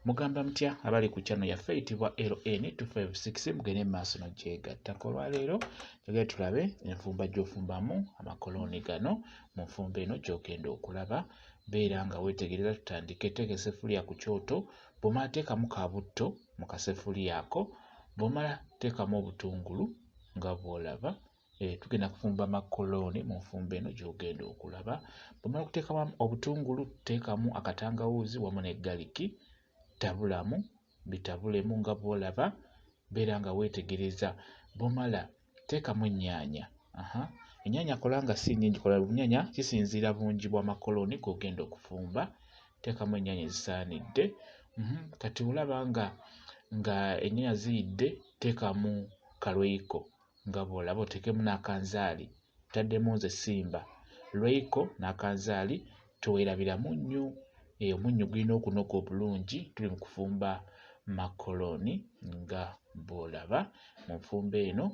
mugamba mutya abali ku channel yaffe eyitibwa LN256 mugende mu maaso nogyegatta olwaleero njagala tulabe enfumba gyofumbamu amakolooni gano mu nfumba eno gyogenda okulaba beera nga wetegereza tutandike teeka esefuliya ku kyoto bwomala teekamu ka butto mu kasefuliya ako bwomala teekamu obutungulu nga bwolaba Eh, tugenda kufumba makolooni mu nfumba eno gy'ogenda okulaba bwemala okuteekamu obutungulu teekamu akatangawuuzi wamu ne galiki tabulamu bitabulemu nga bwolaba beera nga weetegereza bwomala teekamu ennyaanya ennyaanya kola nga si nyingi kola bunyanya kisinziira bungi bwa makolooni gogenda okufumba teekamu ennyaanya ezisaanidde mhm, kati olaba nga nga ennyaanya ziyidde teekamu kalweiko nga bw'olaba oteekemu n'akanzaali ntaddemu nze simba lweiko n'akanzaali teweerabira munnyu eyo eh, munnyu gulina okunoga obulungi tuli mu kufumba makolooni nga bw'olaba mu nfumba eno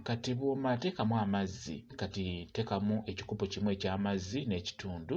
kati bw'oma teekamu amazzi kati teekamu ekikopo kimu eky'amazzi n'ekitundu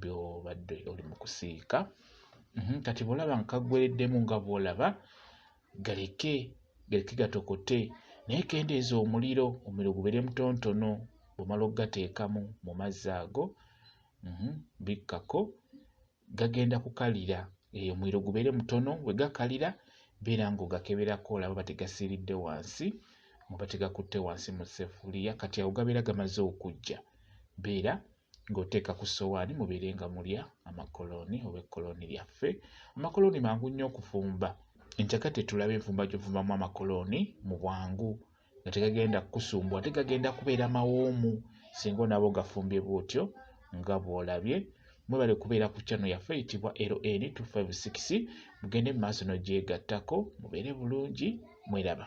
byobadde oli mu kusiika mhm, kati bwolaba nga kaggwereddemu nga bwolaba galeke galeke gatokote naye kendeeza omuliro omuliro gubeere mutontono bwomala okugateekamu mu mazzi ago mhm, bikkako gagenda kukalira eyo eh, omuliro gubeere mutono bwe gakalira beera ng'ogakeberako olaba bategasiiridde wansi oba tegakutte wansi mu sefuliya kati awo gabeera gamaze okujja beera ng'oteeka ku ssowaani mubeere nga mulya amakolooni oba ekkolooni lyaffe amakolooni mangu nnyo okufumba enkyaka tetulaba enfumba gy'ofumbamu amakolooni mu bwangu nga tegagenda kukusumbwa ate gagenda kubeera mawoomu singa onaba ogafumbye bwotyo nga bw'olabye mwebale kubeera ku kyano yaffe eyitibwa ln 256 mugende mu maaso n'ogyegattako mubeere bulungi mweraba